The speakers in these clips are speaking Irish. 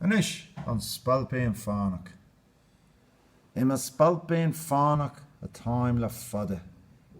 Anois, An Spailpín Fánach. I mo spailpín fánach atáim le fada,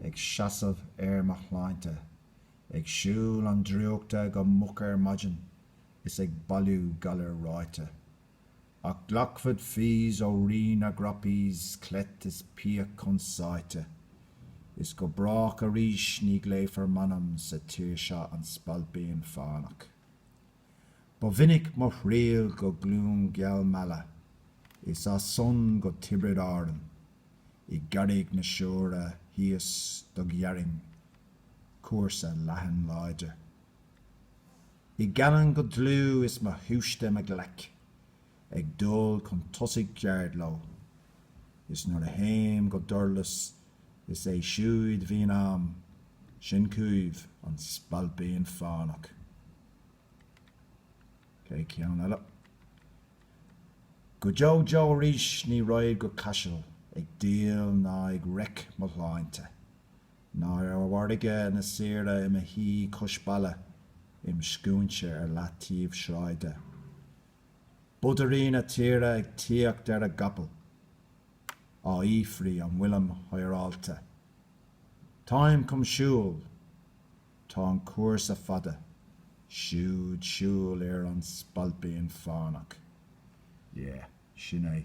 ag seasamh ar mo shláinte, ag siúl an drúchta go moch ar maidin, is ag bailiú galair ráite. Ach glacfad fees ó Rí na gCroppies cleith is píc chun sáite, Is go brách arís ní glaofar m'ainm sa tír seo An Spailpín Fánach. Ba mhinic mo thriall go gCluain gheal Meala, Is as san go Tiobraid Árann, I gCarraig na Siúire thíos do ghearrainn cúrsa leathan láidir. I gCallainn go dlúth is mo shúiste im ghlaic ag dul chun tosaigh ceard leo, is nuair a théim go Durlas is é siúd bhíonn a'm, sin chúibh, an Spailpín Fánach. Cé ceann eile? Go deo deo arís ní raghad go Caiseal ag díol ná ag reic mo shláinte, Ná ar mhargadh na saoire i mo shuí cois balla im scaoinse ar leataobh sráide. Bodairí na tíre ag tíocht ar a gcapaill. Á fhiafraí an bhfuilim hireálta. Táim chun siúl. Tá an cúrsa fada. Siúd siúl ar an Spailpín Fánach. Yeah, sin é.